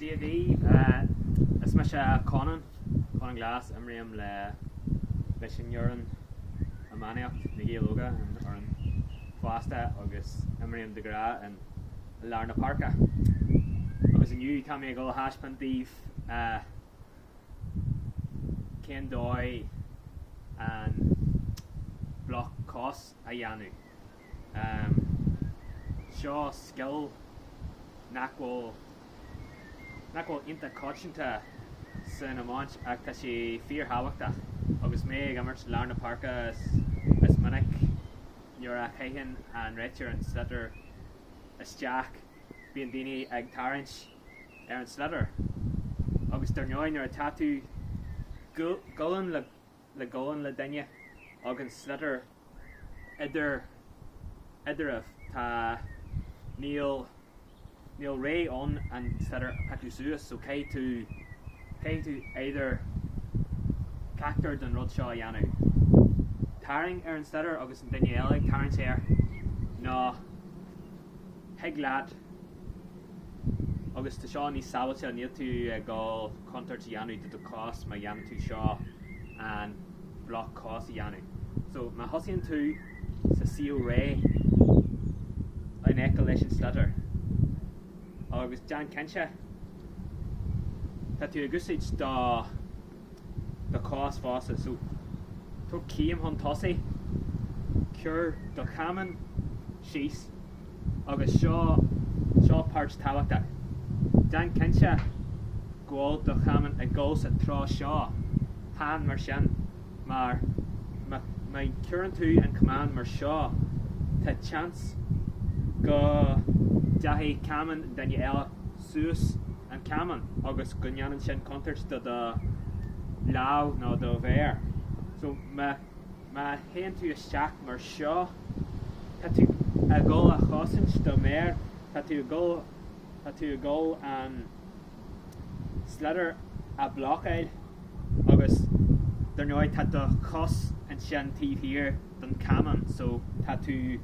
CLG Is mise Conan, Conan Glass, imrím le leis an fhoireann iománaíocht Na Gaeil Óga, ar an fhoireann fásta agus imrím de ghnáth in i lár na páirce. Agus inniu tá mé ag dul a thaispeáint daoibh cén dóigh an bloc cos a dhéanamh. Seo scil nach bhfuil nach bhfuil ionta coitianta san iomáint ach tá sé fíorthábhachtach agus mé ag imirt lár na páirce is minic nuair a chaitheann an réiteoir an sliotar isteach bíonn daoine ag tarraingt ar an sliotar agus dar ndóigh nuair atá tú gualainn le le gualainn le duine agus an sliotar idir eadraibh tá níl níl ré ann an sliotar a piocadh suas so caithfidh tú caithfidh tú either ceachtar den rud seo a dhéanamh tarraing ar an sliotar agus an duine eile ag tarraingt air nó Thig leat agus tá seo níos sábháilte, níl tú ag dul contúirt a dhéanamh do do chos má dhéanann tú seo, an bloc cos a dhéanamh. So má thosaíonn tú sa suíomh réidh in aice leis an sliotar agus déan cinnte tá tú ag úsáid do. do chos fosta so tóg céim chun tosaigh, cuir do chamán síos agus seo seo páirt tábhachtach, déan cinnte go bhfuil do chamán ag dul sa treo seo, chan mar sin mar má má cuireann tú an camán mar seo tá seans go dtéann camán duine eile. suas an camán agus go ndéanann sin contúirt do do lámh nó do mhéar. So má, má théann tú isteach mar seo, tá tú ag dhul a chosaint do mhéar, tá tú ag dhul, tá tú ag dhul an sliotar a bhlocáil agus dar ndóigh tá do chos ansin taobh thiar. don Camán so tá tú,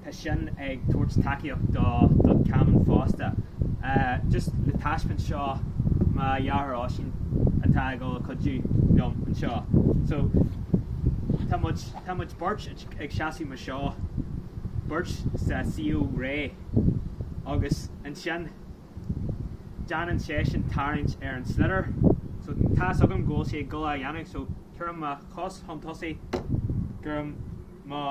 tá sin ag tabhairt tacaíocht do, don Camán fosta. Just le taispeáint seo mo dheartháir Oisín atá ag dul a chuidiú liom anseo. So tá muid, tá muid beirt ag seasamh mar seo, beirt sa suíomh réidh agus ansin, déanann seisean tarraingt ar an sliotar so tá 'fhios agam go bhfuil sé ag dul á dhéanamh so cuirim mo chos chun tosaigh cuirim mo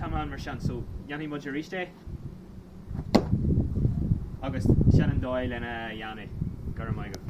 camán mar sin so dhéanfaidh muid aríst é agus sin an dóigh lena dhéanamh, go raibh maith agat.